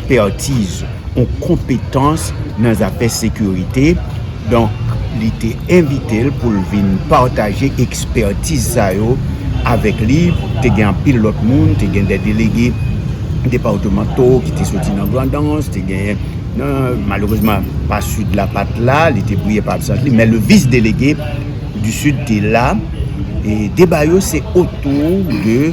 ekspertiz ou konpetans nan zafè sekirite, donk li te envite l pou l vin pataje ekspertiz sa yo avèk li. Te gen anpil lòt moun, te gen 2 delege depatmanto ki te soti nan Grandans, te gen nan, malerezman pa Sid la pa t la, li te priye pou absans li, men le vis delege di Sid te la. E deba yo se otou de.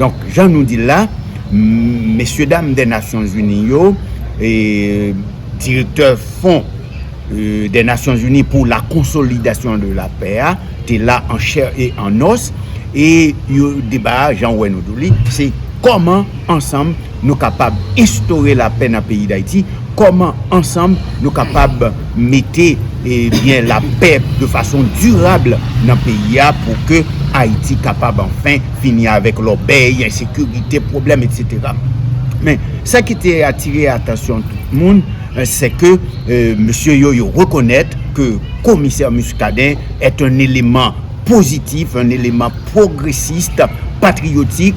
Donk jan nou di l la, mesye dam dè Nasyon Zini yo, direktè fon dè Nasyon Zini pou la konsolidasyon de la pè a, te la an chè e an nòs, e yo deba a jan ou wè nou di w li, se kòman ansanm. nou kapab enstore lapè nan peyi Dayiti, kòman ansanm nou kapab mete ebyen lapè de fason dirab nan peyi a pou ke Ayiti kapab anfen fini avèk lòbèy, ensekirite, pwoblèm etsetera. Men, sa ki te atire atansyon tout moun, se ke mesye yo yo rekonèt ke komisè Muscadin est un élément positif, un élément progressiste, patriotique,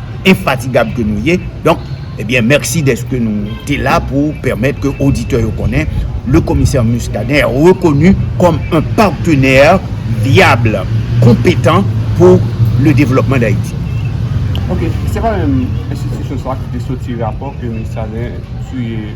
enfatigab ke nou ye, donk ebyen mèsi dèske nou te la pou pèmèt ke oditè yo konnen le Commissaire Muscadin est reconnu comme un partenaire viable, competent pour le développement d'Haïti. Ok, se pa menm enstitisyon sa ki te soti rapò ke Muscadin siyen?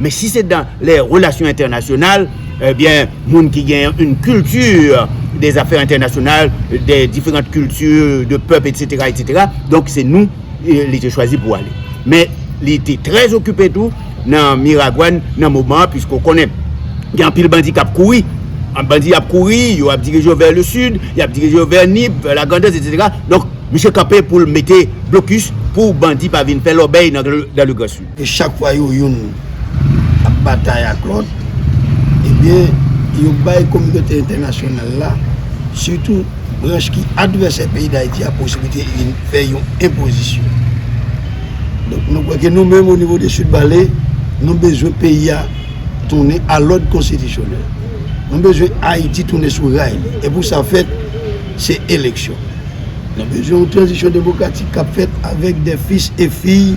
Men si se dan lè relasyon entènasyonal, ebyen moun ki gen yn kilti de zafè entènasyonal, de diferant kilti, de pèp etsetera etsetera, donk se nou li te chwazi pou ale. Men li te trè okipe tou nan Miragwàn nan moman an pwiske ou konnen gen anpil bandi k ap kouri, bandi ap kouri, yo ap dirije yo vè le sid, y ap dirije yo vè Nip, vè Lagrandans etsetera, donk misye kanpe pou l mete blokis pou bandi pa vin fè lòbèy nan le gran sid. E chak fwa yo youn ap batay ak lòt, ebyen yo bay kominote entènasyonal la, sitou branch ki advèsè peyi Dayiti a posiblite vin fè yon enpozisyon. Donk nou kwè ke nou menm onivo de Sud Bale, nou bezwen peyi a tounen a lòd konstitisyonèl. Nou bezwen Ayiti tounen sou ray li. E pou sa fèt, se eleksyon. Nou bezwen yon tranzisyon demokratik kap fèt avèk dè fis e fiy.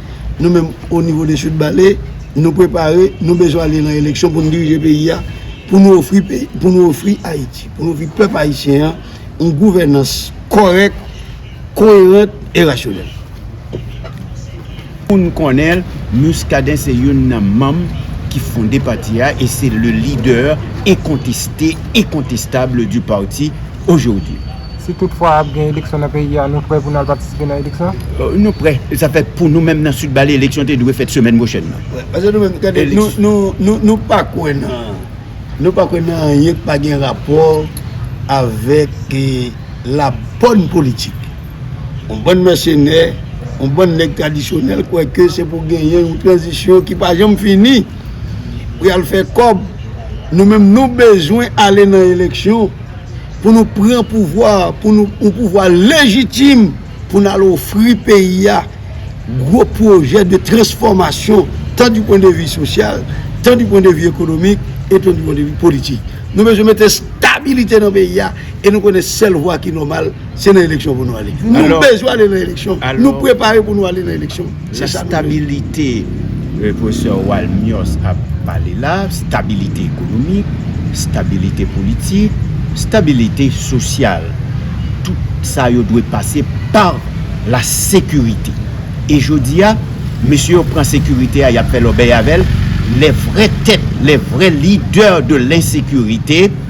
Nou menm o nivo de Sud Bale, nou prepare, nou bezwen ale nan eleksyon pou nou dirije peyi a, pou nou ofri peyi, pou nou ofri Ayiti, pou nou ofri pèp ayisyen an, yon gouvènans kòrèk, koyerant e rasyonèl. Moun konnen l, Muscadin se youn nan manm ki fonde pati a e se le lidè enkonteste, enkontestab du parti ojodi. Si tout fwa ap gen eleksyon nan peyi a, nou prè pou nou al patisipe nan eleksyon? Nou prè. Sa fè pou nou menm nan Sud Bale eleksyon te dwe fèt semèn pwochèn nan. Wè. Pase nou menm gade nou pa kwè nan nou pa kwè nan anyen ki pa gen rapò avèk la bòn politik. Yon bann mèsenè, yon bann nèg tradisyonèl kwè ke se pou genyen yon tranzisyon ki pa janm fini pou y al fè kòb. Nou menm nou bezwen ale nan eleksyon. pou nou pran pouvwa a, pou nou, yon pouvwa lejitim pou nou al ofri peyi a gwo pwojè de transfòmasyon tan di pwen de vi sosyal, tan di pwen de vi ekonomik, e tan di pwen de vi politik. Nou bezwen mete stabilite nan peyi a, e nou konnen sèl vwa ki nòmal, Se nan eleksyon pou nou ale. Nou bezwen ale nan eleksyon. Nou prepare pou nou ale nan eleksyon. La stabilite, Professor Walmios ap pale la, stabilite ekonomik, stabilite politik, stabilite sosyal. Tout sa yo dwe pase par la sekirite. E jodi a, mesye yo pran sekirite a, y ap fè lòbèy avè l, lè vrè tèt, lè vrè lidè de lensekirite.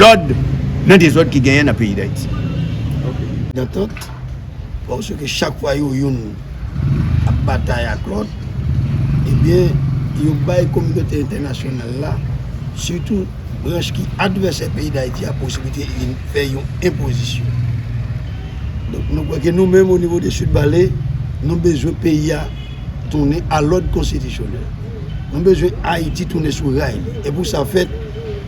lòd nan dezòd ki genyen nan peyi Dayiti. Nan tant, pòske ke chak fwa yo youn ap batay ak lòt, ebyen yo bay kominote entènasyonal la, sitou branch ki advèsè peyi Dayiti a posiblite li vin fè yon enpozisyon. Donk nou kwè ke nou menm o nivo de Sud Bale, nou bezwen peyi a tounen a lòd konstitisyonèl. Nou bezwen Ayiti tounen sou ray li. E pou sa fèt.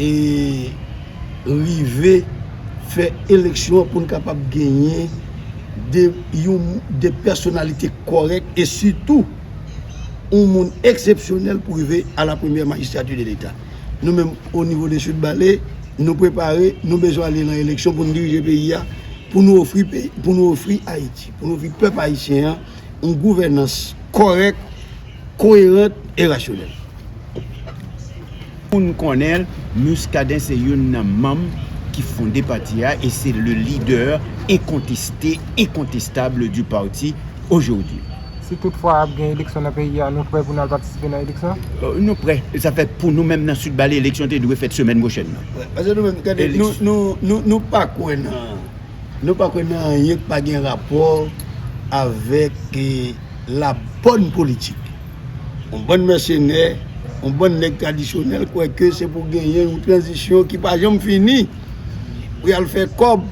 e rive fè eleksyon an pou n kapab genyen de yon de pèsonalite kòrèk e sitou yon moun eksepsyonèl pou rive a la premyè majistrati de leta. Nou menm o nivo de Sud Bale, nou prepare, nou bezwen ale nan eleksyon pou n dirije peyi a, pou nou ofri pou nou ofri Ayiti, pou nou ofri pèp ayisyen an yon gouvènans kòrèk. koyerant e rasyonèl. Pou n konnen l, Muscadin se youn nan manm ki fonde pati a e se le leader incontesté, incontestable du parti aujourd'hui. Si tout fwa ap gen eleksyon nan peyi a, nou prè pou n al patisipe nan eleksyon? Nou prè. Sa fè pou nou menm nan Sud Bale eleksyon te dwe fèt semèn pwochèn nan. Prè. Paske nou menm, gade, nou pa kwè nan. Nou pa kwè nan anyen k pa gen rapò avèk la bòn politik. Yon bann mèsenè, yon bann nèg tradisyonèl kwè ke se pou genyen yon tranzisyon ki pa janm fini pou y al fè kòb.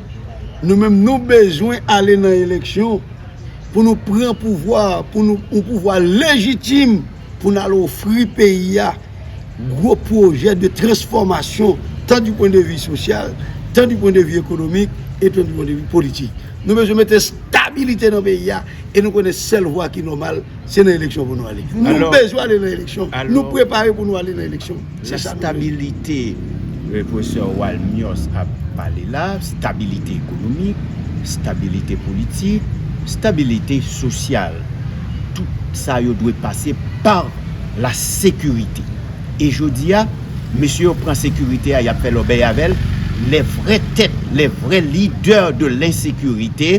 Nou menm nou bezwen ale nan eleksyon pou nou pran pouvwa, pou nou yon pouvwa lejitim. pou n al ofri peyi a gwo pwojè de transfòmasyon tan di pwen de vi sosyal, tan di pwen de vi ekonomik, e tan di pwen de vi politik. Nou bezwen mete stabilite nan peyi a, e nou konnen sèl vwa ki nòmal, se nan eleksyon pou nou ale. Nou bezwen ale nan eleksyon, nou prepare pou nou ale nan eleksyon. Se stabilite Pwofesè Walmios ap pale la, stabilite ekonomik, stabilite politik, stabilite sosyal. Tout sa yo dwe pase pa la sekirite. E jodi a, mesye yo pran sekirite a, y ap fè lòbèy avè l, lè vrè tèt, lè vrè lidè de lensekirite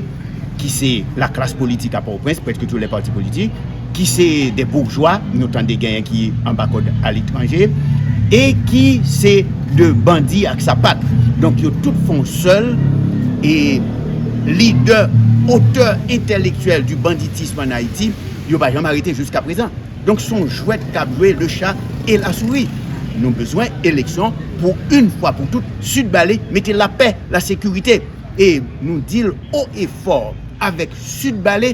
ki se laklas politik a Pòtoprens, prèske tout lè pati politik, ki se de bourjwa nou tande genyen ki anba kòd a letranje e ki se de bandi ak sapat donk yo tout fon sèl e lidè otè entèlektyèl di banditism an Ayiti yo pa janm arete jiska prezan donk son jwèt kap jwe le cha e la souri nou bezwen eleksyon pou yn fwa pou tout sid bale mete lapè la sekirite e nou dil o e fò avèk sid bale.